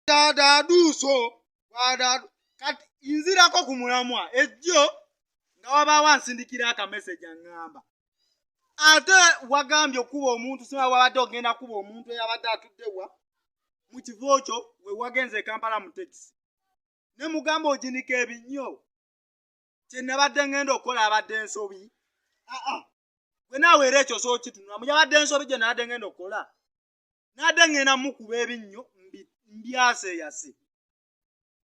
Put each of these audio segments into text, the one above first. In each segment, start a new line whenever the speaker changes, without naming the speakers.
wadadaduuso wadadu kati nzirako ku mulamwa ejjo nga wabaawo ansindikira akameseji aŋŋamba ate wagambye okuba omuntu sima wabadde ogenda kuba omuntu eyabadde atuddewa mu kivo kyo we wagenze ekampala mu tekisi ne mugamba oginika ebinnyo kye nabadde ŋŋenda okukola abadde ensobi aa gwe naawe era ekyo sookitunulamu yabadde ensobi gye nabadde ŋŋenda okukola n'ate ŋŋenda mukuba ebinnyo mbyaseyase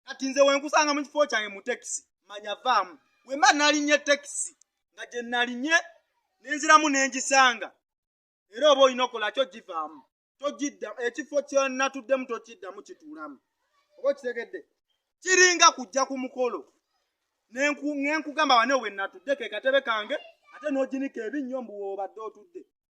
kati nze wenkusanga mu kifo kyange mu tekisi manya vaamu wemba nalinye tekisi nga gye nalinye nenziramu nengisanga era oba olina okola kyo givaamu togidda ekifo kyenatuddemu tokiddamu kituulamu oba okitegedde kiringa kujja ku mukolo nenkugamba wane wenatudde kekatebe kange ate noginika ebinnyo mbuwoobadde otudde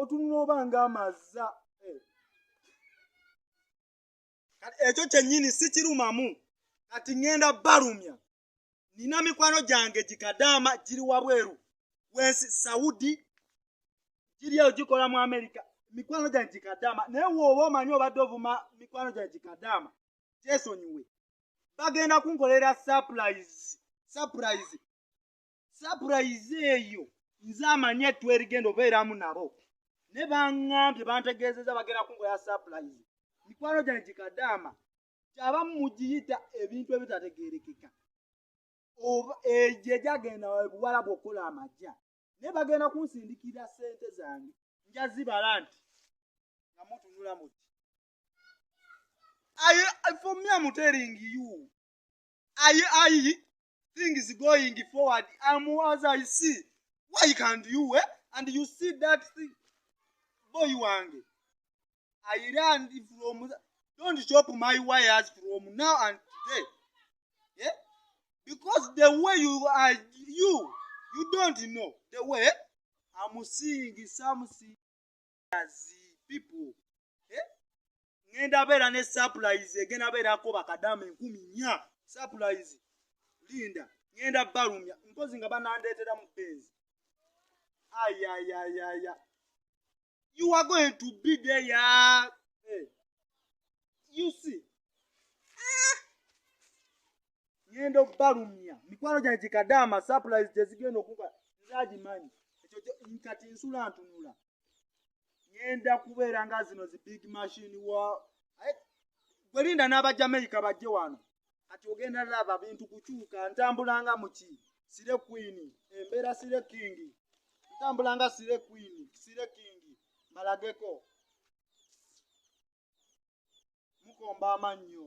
otunula oba nga amaza eh. kati ekyo kyennyini si kirumamu kati ŋŋenda balumya nina mikwano gyange gikadaama giri wabweru wensi saudi giri eyo gikola mu amerika mikwano gyange gikadaama naye wooba omanyi obadde ovuma mikwano gyange gikadaama gyesonyiwe bagenda kunkolera surprise surprise sapurayizi eyo nze amanyi etwerigenda obeeramu nabo ne baŋŋambye bantegeezeza bagenda kunkola sapurayizi mikwano gyange gikadaama kyaba mugiyita ebintu ebitategeerekeka oba egyo egyagenda buwala bwokukola amagya naye bagenda kunsindikira sente zange njazibala nti nga mutunula muti for me am telling you ayi ayi things going forward am as i see why can't you wait and you see that thing boy wange i learned from don't chop my wires from now and today yeah? because the way you are you you don't know the way i'm seeing something eh? ŋenda beera ne surprise egenda beerako bakadama enkumi nya surprise linda ŋenda balumya mpozi nga banandeetera mu benzi ayayayaya you are going to be there ya hey. Eh. you see ah! ŋŋenda okubalumya mikwano gyange gikadaama sapulayizi gye zigenda okuba nze agimanyi ekyo kati nsula ntunula ŋŋenda kubeera nga zino zi big machine wa gwe linda n'abajamaica bajje wano kati ogenda laba bintu kukyuka ntambulanga muki sire kwini embeera sire kingi ntambulanga sire kwini sire kingi malageko mukomba amannyo